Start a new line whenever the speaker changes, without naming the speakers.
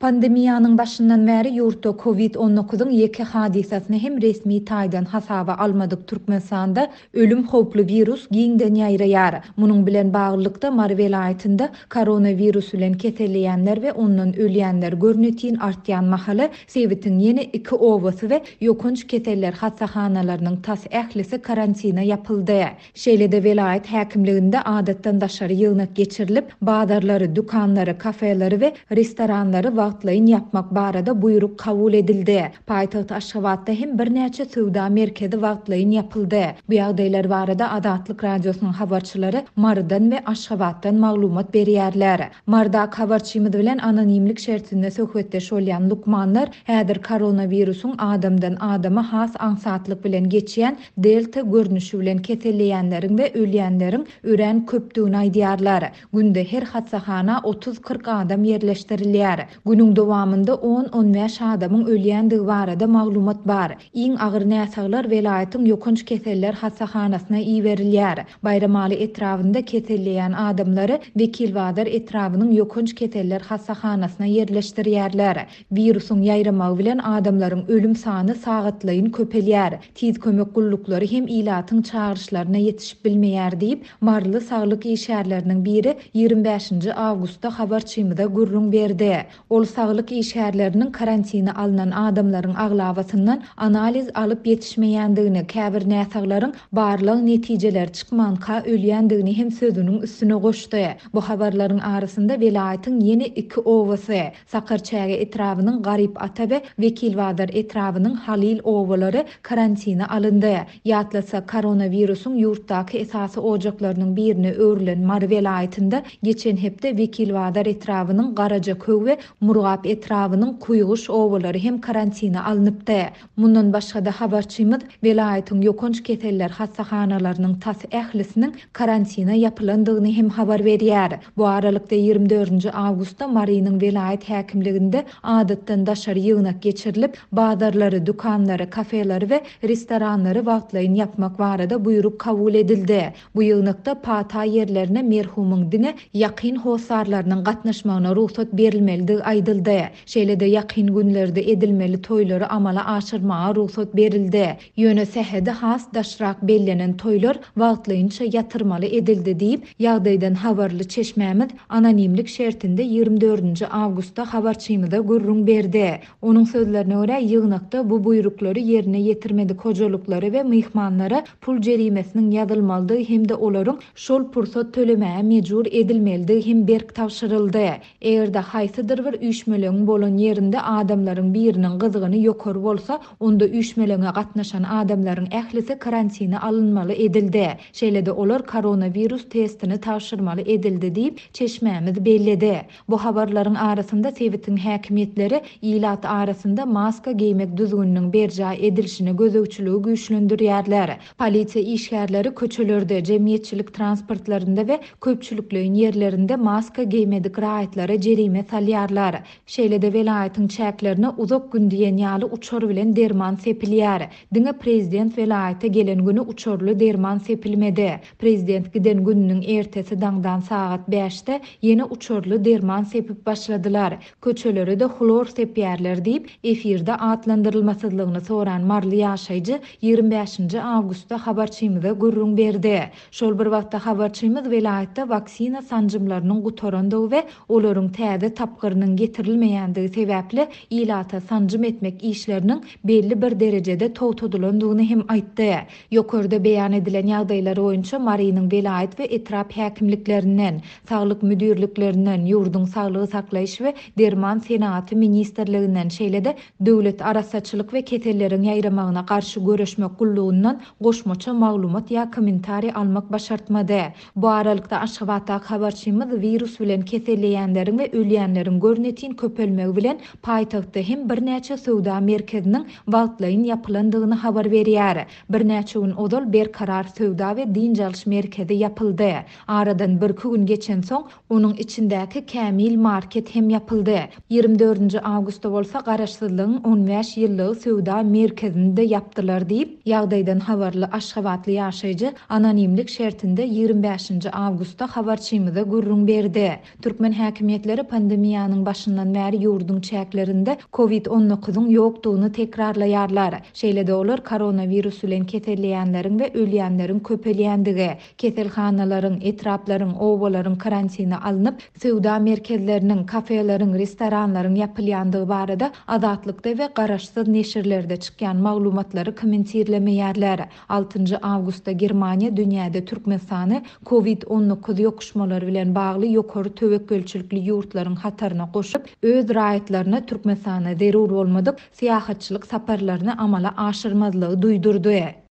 Pandemiýanyň başyndan bäri ýurtda Kowid on dokuzyň ýeke hadysasyny hem resmi taýdan hasaba almadyk Türkmenistanda ölüm howply wirus giňden ýaýraýar. Munuň bilen baglylykda, Mary welaýatynda koronawirus bilen keselleýänler we ondan ölýänler görnetin artýan mahaly, sebitiň ýene iki obasy we ýokanç keseller hassahanalarynyň tas ählisi karantine ýapyldy. Şeýle-de welaýat häkimliginde adatdan daşary ýygnak geçirilip, bazarlary, dükanlary, kafeleri we restoranlary wagtlaýyn ýapmak barada buýruk kabul edildi. Paýtagt Aşgabatda hem birnäçe söwda merkezi wagtlaýyn ýapyldy. Bu ýagdaýlar barada Azatlyk Radiosynyň habarçylary Marydan we Aşgabatdan maglumat berýärler. Marydaky habarçymyz bilen anonimlik şertinde söhbetdeş bolýan lukmanlar häzir koronawirusyň adamdan adama has aňsatlyk bilen geçýän Delta görnüşi bilen keselleýänleriň we ölýänleriň örän köpdügini aýdýarlar. Günde her hassahana otuz-kyrk adam ýerleşdirilýär. Günüň dowamynda on-on bäş adamyň ölýändigi barada maglumat bar. Iň agyr näsaglar welaýatyň ýokanç keseller hassahanasyna iberilýär. Baýramaly etrabynda keselleýän adamlary Wekilbazar etrabynyň ýokanç keseller hassahanasyna ýerleşdirýärler. Wirusyň ýaýramagy bilen adamlaryň ölüm sany sagatlaýyn köpelýär. Tiz kömek gulluklary hem ilatyň çagyryşlaryna ýetişip bilmeýär diýip, maryly saglyk işgärleriniň biri ýigrimi bäşinji awgustda habarçymyza gürrüň berdi. Ol saglyk işgärleriniň karantine alnan adamlaryň aglabasyndan analiz alyp ýetişmeýändigini, käbir näsaglaryň barlag netijeleri çykmanka ölýändigini hem sözüniň üstüne goşdy. Bu habarlaryň arasynda welaýatyň ýene iki obasy, Sakarçäge etrabynyň Garyp ata we Wekilbazar etrabynyň Halyl obalary karantine alyndy. Ýatlatsak, koronawirusyň ýurtdaky esasy ojaklarynyň birine öwrülen Mary welaýatynda geçen hepde Wekilbazar etrabynyň Garajaköw we Murgap etrabynyň Kuýguş obalary hem karantine alnypdy. Mundan başga-da habarçymyz welaýatyň ýokanç keseller hassahanalarynyň tas ählisiniň karantine ýapylandygyny hem habar berýär. Bu aralykda ýigrimi dördünji awgustda Marynyň welaýat häkimliginde adatdan daşary ýygnak geçirilip, bazarlary, dükanlary, kafeleri we restoranlary wagtlaýyn ýapmak barada buýruk kabul edildi. Bu ýygnakda pata ýerlerine merhumyň diňe ýakyn hossarlarynyň gatnaşmagyna rugsat berilmelidigi aýdyldy. Şeýle-de ýakyn günlerde edilmeli toýlary amala aşyrmaga rugsat berildi. Ýöne sähedi has daşrak bellenen toýlar wagtlaýynça ýatyrmaly edildi diýip, ýagdaýdan habarly çeşmämiz anonimlik şertinde ýigrimi dördünji awgustda habarçymyza gürrüň berdi. Onuň sözlerine görä, ýygnakda bu buýruklary ýerine ýetirmedik hojalyklara we myhmanlara pul jerimesiniň ýazylmalydygy hem-de olaryň şol pursat tölemäge mejbur edilmelidigi hem berk tabşyryldy. Eger-de haýsydyr bir üýşmelegiň bolan ýerinde adamlaryň biriniň gyzgyny ýokary bolsa, onda üýşmeleňe gatnaşan adamlaryň ählisi karantine alynmaly edildi. Şeýle-de olar koronawirus testini tabşyrmaly edildi diýip, çeşmämiz belledi. Bu habarlaryň arasynda sebitiň häkimiýetleri ilat arasynda maska geýmek düzgüniniň berjaý edilişine gözegçiligi güýçlendirýärler. Polisiýa işgärleri köçelerde, jemgyýetçilik transportlarynda we köpçülikleýin ýerlerinde maska geýmedik raýatlara jerime salýarlar. Şeýle-de welaýatyň çäklerine uzak gün diýen ýaly uçar bilen derman sepilýär. Diňe prezident welaýata gelen güni uçarly derman sepilmedi. Prezident giden gününiň ertesi daňdan sagat bäşde ýene uçarly derman sepip başladylar. Köçelere-de hlor sepýärler diýip, efirde atlandyrylmasyzlygyny soran maryly ýaşaýjy ýigrimi bäşinji awgustda habarçymyza gürrüň berdi. Şol bir wagtda habarçymyz welaýatda waksina sanjymlarynyň gutarandygy we olaryň täze tapgyrynyň getirilmeýändigi sebäpli ilata sanjym etmek işleriniň belli bir derejede togtadylandygyny hem aýtdy. Ýokarda beýan edilen ýagdaýlar boýunça Marynyň welaýat we etrap häkimliklerinden, Saglyk müdirliklerinden, ýurduň Saglygy saklaýyş we derman senagaty ministrliginden, şeýle-de Döwlet arassaçylyk we keselleriň ýaýramagyna garşy göreşmek gullugyndan goşmaça maglumat ýa kommentariý almak başartmady. Bu aralykda, Aşgabatdaky habarçymyz wirus bilen keselleýänleriň we ölýänleriň görnetin köpelmegi bilen paýtagtda hem birnäçe söwda merkeziniň wagtlaýyn ýapylandygyny habar berýär. Birnäçe gün ozal Berkarar söwda we dynç alyş merkezi ýapyldy. Aradan birki gün geçensoň, onuň içindäki Kämil market hem ýapyldy. Ýigrimi dördünji awgustda bolsa Garaşsyzlygyň on bäş ýyllygy söwda merkezini-de ýapdylar diýip, ýagdaýdan habarly aşgabatly ýaşaýjy anonimlik şertinde ýigrimi bäşinji awgustda habarçymyza gürrüň berdi. Türkmen häkimiýetleri pandemiýanyň başyndan bäri ýurduň çäklerinde Covid on dokuzyň ýokdugyny tekrarlaýarlar. Şeýle-de olar koronawirus bilen keselleýänleriň we ölýänleriň köpelýändigi, Keselhanalaryň, etraplaryň, obalaryň karantine alnyp, söwda merkezleriniň, kafeleriň, restoranlaryň ýapylýandygy barada Azatlykda we garaşsyz neşirlerde çykýan maglumatlary kommentirlemeýärler. Altynjy awgustda Germaniýa dünýäde Türkmenistany Covid on dokuz ýokuşmalary bilen bagly ýokary töwekgelçilikli ýurtlaryň hataryna goşup, öz raýatlaryna Türkmenistana zerur bolmadyk syýahatçylyk saparlaryny amala aşyrmazlygy duýdurdy.